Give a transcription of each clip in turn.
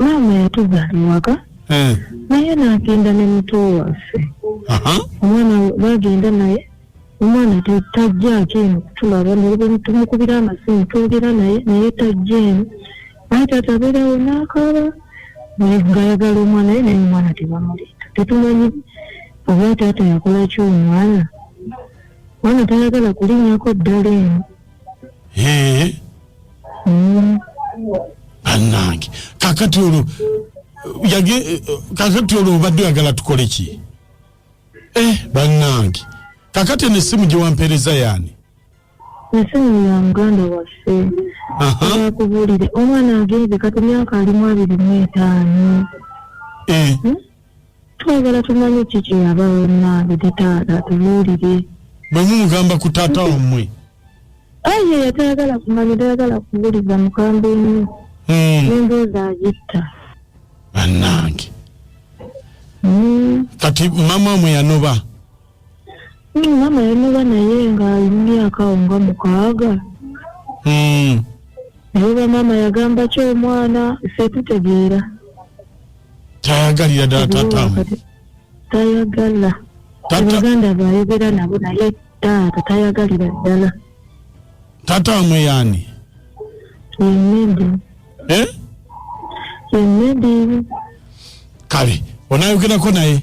maama yatuzaala ewaka eh. naye n'agenda ne muto waffe omwana bagenda naye omwana tajjaako eno kutulaba tumukubira amasimu twogera naye naye tajja eno naye taata abeerawo n'akaaba negayagala omwana ye naye omwana tebamuleeta tetumanyi oba taata yakolaki omwana omwana tayagala kulinyako ddala eno anange kakati olwo yage eh, kakati olwo obadde oyagala tukole ki eh banange kakati eno essimu gye wampeereza yaani esimu ya muganda waffe akubuulire omwana agenze kati myaka alimu abiri mu etaano eh. hmm? twagala tumanye ki kye yabawo nange te taata tubuulire bwe mumugamba ku taata wammwe aye yatayagala kumanya tayagala kubuliza mukamba emu hmm. nembuuza agitta anange hmm. kati mama mwe yanoba Mm, maama yamuba naye ng'ali mu myaka awo nga mukaaga Mm. naye oba maama yagamba ki omwana ffe tutegeera Tayagalira ddala taata we. Kati tayagala Taata abaganda baayogera nabo naye taata tayagalira ddala taata wamwe yaani? yemedi Eh? yemedi Kale onaayogerako naye.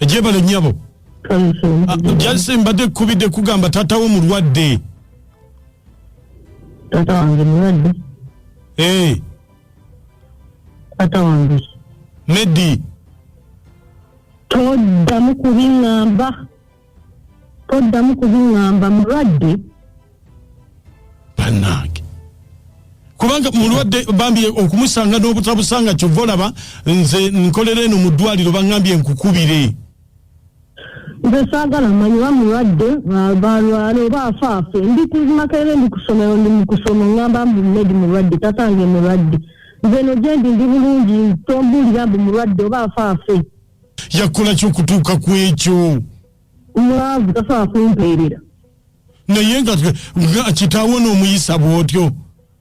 ejebale nyabo ah, jase mbadde kubidde kugamba tata wo mulwadde tata wange mulwadde ee eh. tata wange medi toddamu kubiŋamba toddamu kubiŋamba mulwadde banange kubanga mulwadde bambi okumusanga n'obutabusanga kyova olaba nze nkolera eno mu ddwaliro bangambye nkukubire nze saagala manyi oba mulwadde balwala oba afaafe ndi kumakerere ndi kusomero ndi mukusoma ngamba mbu medi mulwadde tatange mulwadde nze no gyendi ndi bulungi tombuulira mbu mulwadde oba afaafe yakola kyokutuuka ku ekyo mwavu tasobola kumpeerera naye nga kitaawo n'omuyisa bw'otyo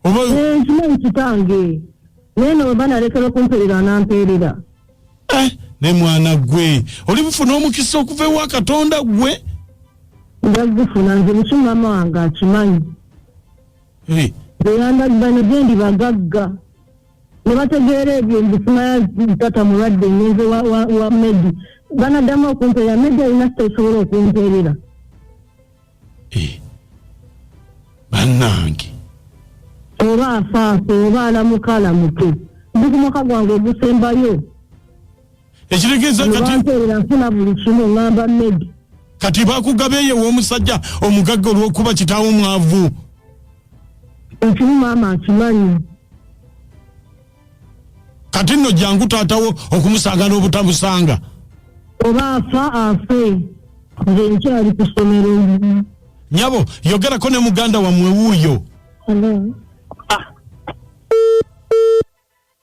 oba eh, nkimanyi kitange naye no weba nalekera okumpeerera anampeerera eh, ne mwana gwe oli bufuna omukisa okuva ewa katonda gwe ndazifuna nze buki mama wange akimanyi beyandagibana eh. gyendi bagagga ne bategeera ebyo nzifumaya tata mulwadde ngenze wa medi banaddamu okumpeerera medi alina sita esobola okumpeerera eh. bannange oba afaafe oba alamuka alamuke ndi ku mwaka gwange ogusembayo ekitegeeza kati nfuna buli kimu ŋamba medi kati bakugaba eyo ew'omusajja omugagga olw'okuba kitaawo mwavu ekimu maama akimanyi kati nno jangu taatawo okumusanga n'obutamusanga oba afa afe nze nkyali ku ssomero nyabo yogerako ne muganda wammwe wuuyo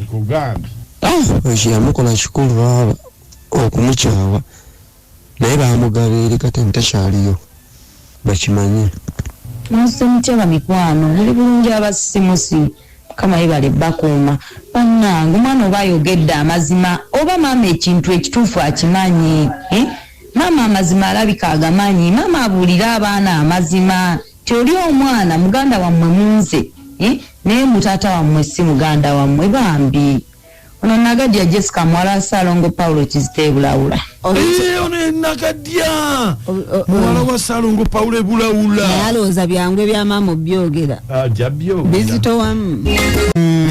ekyo kyeyamukola kikulu baaba okumukyawa naye bamugaba eri kati ntakyaliyo bakimanye mwasuse mutya bamikwano muli bulungi abasimusi mukama yebale bakuuma banange omwana oba ayogedde amazima oba maama ekintu ekituufu akimanyi eh? maama amazima alabika agamanyi maama abuulire abaana amazima Nti oli omwana muganda wamwe munze eh naye mbu taata wamwe si muganda wamwe bambi Ono nagadya Jessica muwala wa Salongo Paulo kizita ebulawula eh, ono enagadya muwala wa Salongo Paulo ebulawula naye alowooza byangu ebyamaama obyogera bizitowamu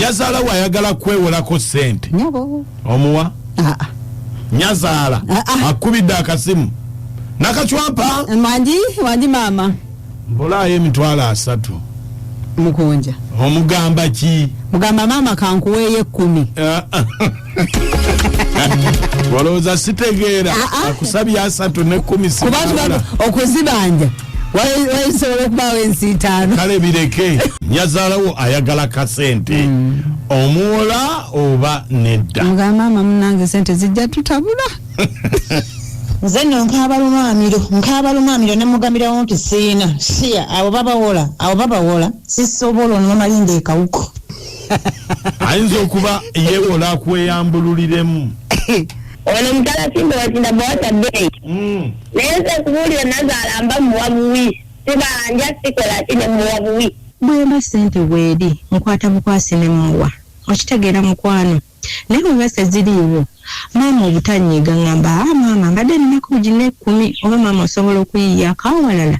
yazalawo ayagala kwewolako sente omuwa ah, ah. nyazaala ah, ah. akubidde akasimu nakacwapa manji manji maama mbulaayo emitwalo asatu mukunja omugamba ki mugamba maama kankuweeyo ekkumi walowooza sitegeera akusabye asatu nekumi okuziba nja wayisobola okubaawo ensiitaano kale bireke nyazaalawo ayagala kasente mm. omuwola oba nedda nga maama munange sente zijja tutabula nze no nkaaba lumaamiro nkaaba lumaamiro ne mugamirawo nti siina siya abo babawola abo babawola sisobola onomalinda ekawuko ayinza okuba yewola akweyambululiremu ono mutala simba wakinda bwasa dei mm. naye nze kubuulire nazaala mba muwa buwi sibanja sikola ki ne muwa buwi bwemba sente weeri nkwata bukwasi ne muwa okitegeera mukwano naye bweba seziriiwo maama obutanyiiga ngamba a ah, maama mbadde ninaku gina ekkumi oba maama osobola okuyiyaako awalala